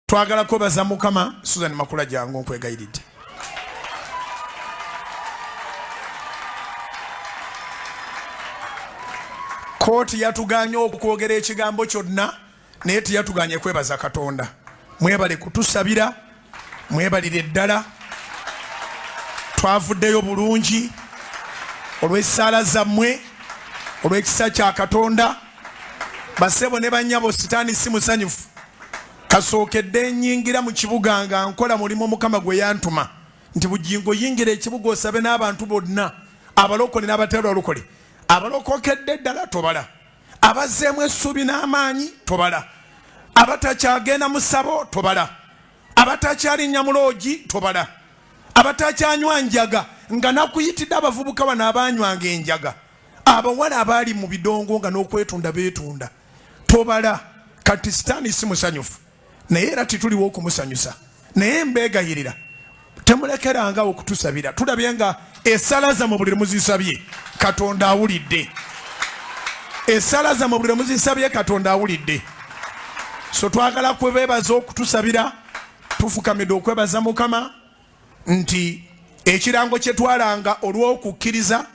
twagala kwebaza mukama susan makula jangu nkwegayiridde kooti yatuganye okwogera ekigambo kyonna naye teyatuganye kwebaza katonda mwebale kutusabira mwebalire ddala twavuddeyo bulungi olw'essaala zammwe olw'ekisa kya katonda basebo ne banyabo sitaani si musanyufu kasookedde nyingira mu kibuga nga nkola mulimu mukama gwe yantuma nti bugingo yingira ekibuga osabe n'abantu bonna abalokole n'abatalwalokole abalokokedde ddala tobala abazzeemu essuubi n'amaanyi tobala abatakyagenda mu ssabo tobala abatakyalinnya mu loogi tobala abatakyanywa njaga nga nakuyitidde abavubuka bano abanywanga enjaga abawala abaali mu bidongo nga n'okwetunda beetunda tobala kati sitaani si musanyufu naye era tituliwo okumusanyusa naye mbegayirira temulekeranga okutusabira tulabye nga esala zamwe buli lwemuzisabye katonda awulidde esala zamwe buli lwemuzisabye katonda awulidde so twagala kwebebaza okutusabira tufukamidde okwebaza mukama nti ekirango kyetwalanga olw'okukkiriza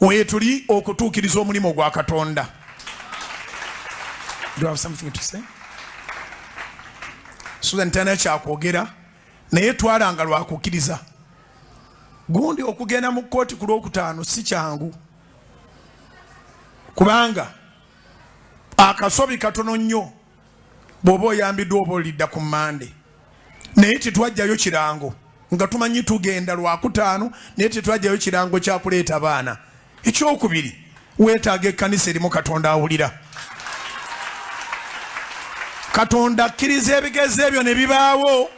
weetuli okutuukiriza omulimu gwa katonda susan talina kyakwogera naye twalanga lwakukkiriza gundi okugenda mu kkooti ku lwokutaano si kyangu kubanga akasobi katono nnyo bw'oba oyambiddwa oba olidda ku mande naye tetwajjayo kirango nga tumanyi tugenda lwakutaano naye tetwajjayo kirango kyakuleeta baana ekyokubiri weetaaga ekkanisa erimu katonda awulira katonda akkiriza ebigezo ebyo ne bibaawo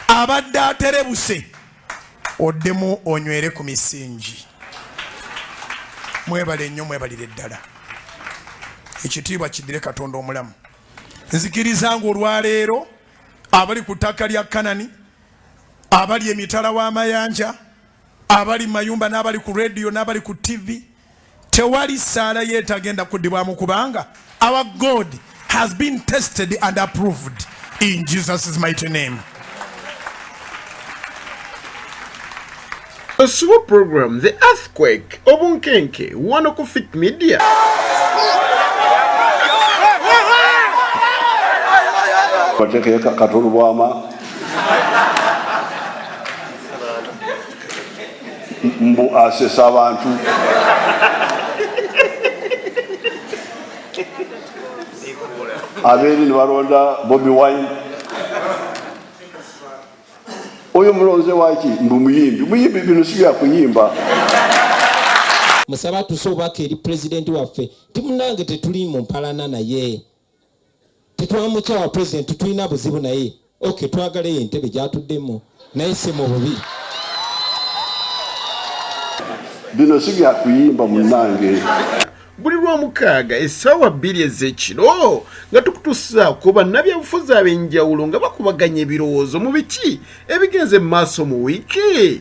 abadde aterebuse oddemu onywere ku misingi mwebale nnyo mwebalire ddala ekitiibwa kiddire katonda omulamu nzikiriza nga olwaleero abali ku ttaka lya kanani abali emitala w'amayanja abali mu mayumba n'abali ku rediyo n'abali ku tivi Tewali saala ye tagenda kudibwamu kubanga our God has been tested and approved in Jesus' mighty name. Osubo program The Earthquake obunkenke wano ku Fit Media. Katundu bwama mbu asesa abantu abeeri nebalonda bobi wine oyo mulonze waki mbu muyimbi muyimbi bino sibyakuyimba musaba tuse obubaka eri pulezidenti waffe nti munange tetuli mu mpalana naye tetwamukyawa president tutulina buzibu naye ok twagala eyo entebe gyatuddemu naye si mu bubi bino si byakuyimba munange buli lwomukaaga essaawa bbiri ez'ekiro nga tukutusaako bannabyabufuzi ab'enjawulo nga bakubaganya ebirowoozo mu biki ebigenze mu maaso mu wiiki